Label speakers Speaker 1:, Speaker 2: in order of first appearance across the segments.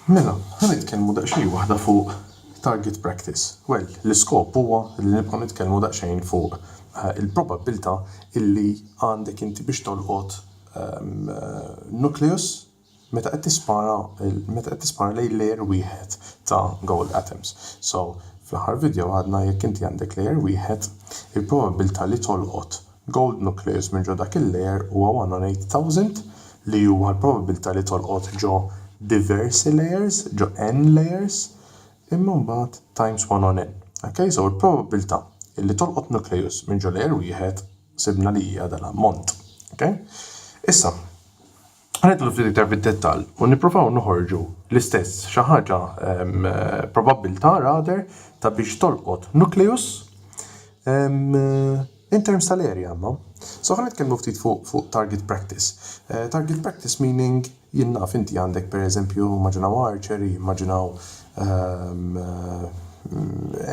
Speaker 1: Mela, ħa nitkellmu daqsxejn waħda fuq target practice. Well, l-iskop huwa li nibqgħu nitkellmu daqsxejn fuq il-probabbiltà illi għandek inti biex tolqot nucleus meta qed tispara meta qed tispara lejn layer wieħed ta' gold atoms. So, fl-aħħar video għadna jekk inti għandek layer wieħed, il-probabbiltà li tolqot Gold nucleus minn ġo dak il-layer huwa 1 on 8,000 li huwa l-probabbiltà li tolqot ġo diversi layers, ġo n layers, imma mbagħad times 1 on n. Ok? So l-probabbiltà li tolqot nucleus minn ġo layer wieħed sibna li hija dal-ammont. Ok? Issa. Ħa nidħlu ftit iktar fid-dettall u nipprovaw noħorġu l-istess xi ħaġa probabbiltà rather ta' biex tolqot nucleus in terms tal-area imma. So ħa nitkellmu ftit fuq target practice. Target practice meaning jien naf inti għandek pereżempju immaġinaw archer, immaġinaw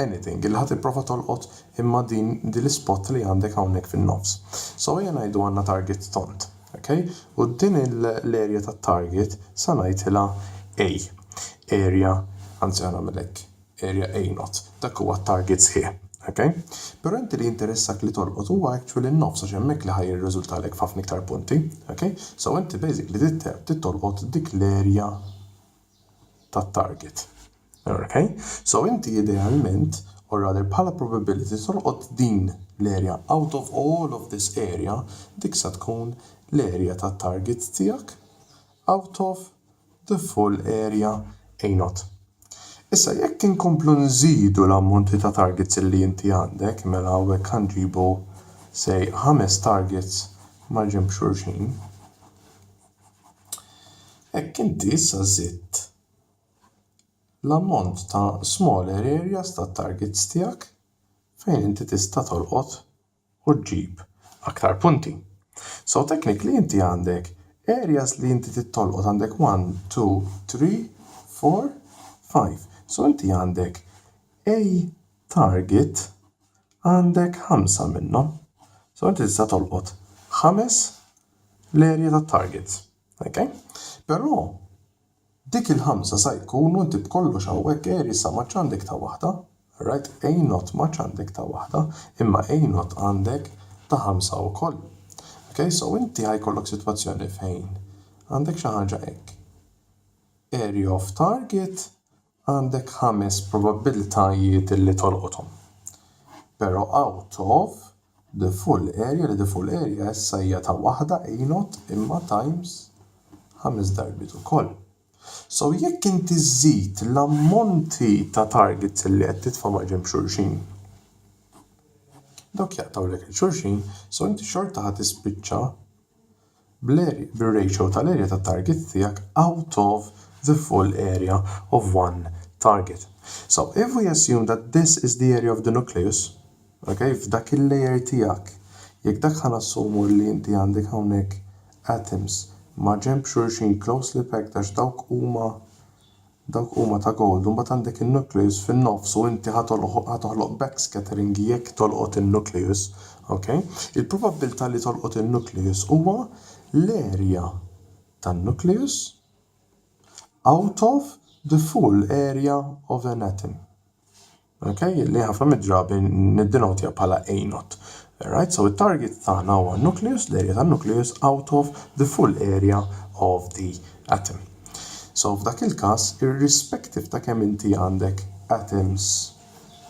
Speaker 1: anything li ħa tipprova tolqot imma din l-ispot li għandek hawnhekk fin-nofs. So ejja ngħidu għandna target tond. Ok? U din l-area tat-target sa ngħidhilha A. Area, anzi ħa nagħmel hekk, area A not. Dak huwa t-target sħiħ. Ok? Però inti li jinteressak li tolqot huwa actually n-nofs għax hemmhekk li ħa jirriżultalek f'ħafna iktar punti. Ok? So inti basically trid tolqot dik l-area tat-target. Ok? So inti idealment or rather bħala probability tolqot din l-area out of all of this area dik sa tkun l-area tat-target tiegħek out of the full area A nought. Issa jekk inkomplu nżidu l-ammonti ta' targets li inti għandek mela hawnhekk ħa nġibu say ħames targets mal-ġenb xulxin. Hekk inti issa żidt l-ammont ta' smaller areas tat-targets tiegħek fejn inti tista' tolqot u ġġib aktar punti. So technically inti għandek areas li inti trid tolqot għandek one, two, three, four, five. So inti għandek a target għandek ħamsa minnhom. So inti tista' tolqot ħames. l-erja tat-target. Ok? Però dik il-ħamsa sa jkunu inti b'kollox hawnhekk erji sa m'għadx għandek ta' waħda, alright? A not m'għadx għandek ta' waħda, imma A not għandek ta' ħamsa wkoll. Ok? So inti ħa jkollok sitwazzjoni fejn għandek xi ħaġa hekk, erja of target, Għandek ħames probabbiltajiet li tolqothom. Però out of the full area li the full area issa hija ta' waħda a not imma times ħames darbiet ukoll. So jekk inti żżid l-ammonti ta' targets li qed titfa' maġenb xulxin, dawk jaqtgħulek 'il xulxin, so inti xorta ħa tispiċċa bir-ratio tal-erja tat-target tiegħek out of the full area of one target. So, if we assume that this is the area of the nucleus, ok, f'dak il-layer tiegħek, jekk dak ħa nassumu li inti għandek hawnhekk atoms ma' ġenb xulxin closely packed għax dawk huma Dawk huma ta' gold u mbagħad għandek in-nucleus fin-nofs u inti ħa tolħoq ħa toħloq backscattering jekk tolqot in-nucleus. Ok? Il-probabbiltà li tolqot in-nucleus huwa l-area tan-nucleus out of the full area of an atom. Ok, li ħafna mid-drabi niddinotja bħala A-not. Right, so it-target tagħna huwa n-nucleus, l-area tan-nucleus out of the full area of the atom. So f'dak il-każ, irrispective ta' kemm inti għandek atoms,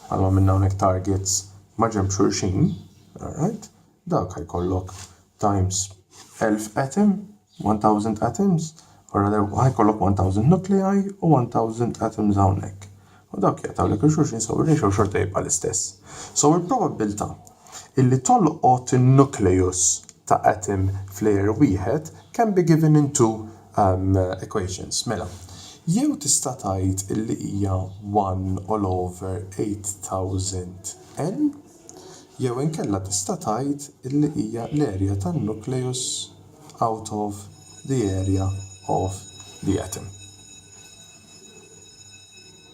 Speaker 1: bħalma għamilna hawnhekk targets, maġenb xulxin, alright, Dak ha jkollok times 1000 atom, 1000 atoms, u ra darba ha jkollok 1000 nuclei u 1000 atoms hawnhekk. U dawk jaqtgħu lek il-xulxin so ir-ratio xorta jibqa' l-istess. So il-probabbiltà illi tolqot in-nucleus ta' atom f'layer wieħed can be given in two equations. Mela, jew tista' tgħid illi hija one all over 8000 N, Jew inkella tista' tgħid li hija l-area tan-nucleus out of the area of the atom.